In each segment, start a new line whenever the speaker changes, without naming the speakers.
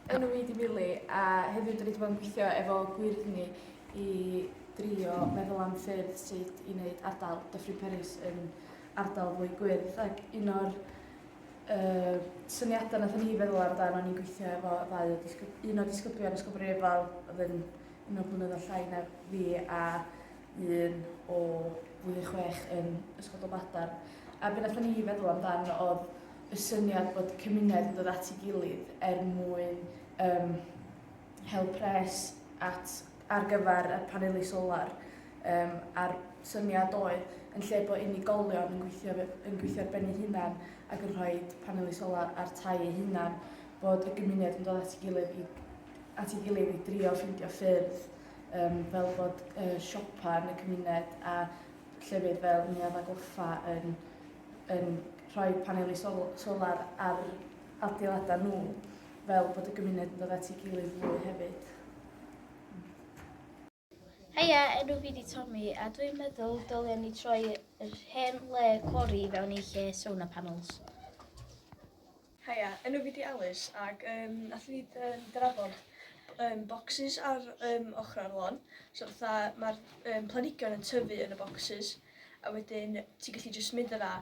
yn y Weedy Mili a heddiw dwi wedi bod yn gweithio efo gwirni i drio meddwl am ffyrdd sut i wneud ardal Dyffryn Peris yn ardal fwy gwyrdd ac un o'r uh, syniadau nath ni feddwl amdano ni'n gweithio efo ddau o disgyb, un o disgyblion Ysgol Brifal oedd yn un o'r blynyddoedd llai na fi a un o flwyddyn chwech yn Ysgol Dolbadarn. A be wnaethon ni feddwl amdan oedd y syniad bod cymuned yn dod at ei gilydd er mwyn um, hel pres at, ar gyfer y paneli solar. Um, a'r syniad oedd yn lle bod unigolion yn gweithio, yn gweithio ar ben ei hunan ac yn rhoi paneli solar ar tai ei hunan, bod y gymuned yn dod at ei gilydd i, at ei gilydd i drio ffeindio ffyrdd um, fel bod uh, siopa yn y cymuned a llefydd fel Neuadd a Goffa yn, yn rhoi paneli sol solar ar adeiladau nhw fel bod y gymuned yn dod at ei gilydd fwy hefyd.
Heia, enw fi di Tommy, a dwi'n meddwl dylen ni troi yr hen le cori fewn i lle sauna panels.
Haia, enw fi di Alys ac yym nath fi yym drafod yym bocsys ar yym ochrau'r lôn. So fatha ma'r yym planhigion yn tyfu yn y bocsys a wedyn ti'n gallu jyst mynd yna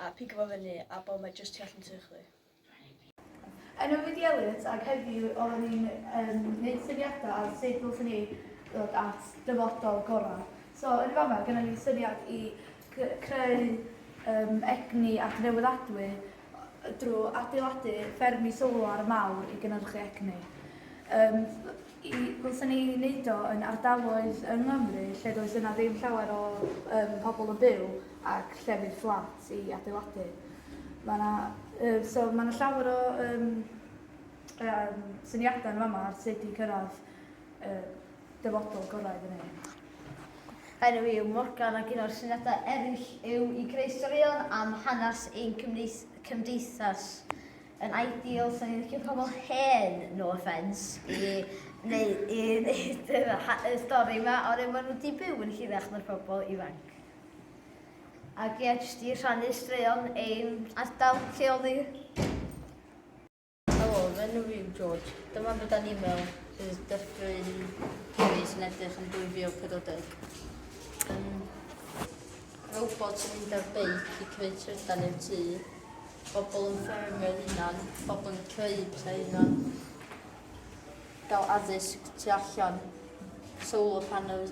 a pigo fo fyny a bo ma jyst tu allan i tŷ chdi. Enw
fi di Elliot ac heddiw oeddwn i'n yym neud syniada ar sut ddylswn i ddod at dyfodol gora. So yn y fama gynna ni syniad i creu egni adnewyddadwy drwy adeiladu ffermydd solar mawr i gynhyrchu egni. Um, i, ddylsen ni wneud o yn ardaloedd yng Nghymru lle does yna ddim llawer o um, pobl yn byw ac llefydd fflat i adeiladu. Mae yna, uh, so, mae yna llawer o um, um, syniadau yn fama ar sut i cyrraedd y dyfodol gorau iddyn nhw. Enw
i yw Morgan ac un o'r syniadau eraill yw i greu straeon am hanes ein cymdeithas. Yn ideal, sa'n ni'n licio pobl hen, no offence, i neu, i wneud y stori yma, ond maen nhw wedi byw yn hirach na'r pobl ifanc. Ac ie, jyst i rhannu straeon ein ardal lleol ni. Helo,
fy enw yw George. Dyma fy dan e-mail bydd Dyffryn Cymru sy'n edrych yn 2040. Um, robot yn mynd ar beic i creu trydan i'r tŷ, bobl yn ffermio'r hunan, bobl yn creu pethau hunan, gael addysg tu allan, solar panels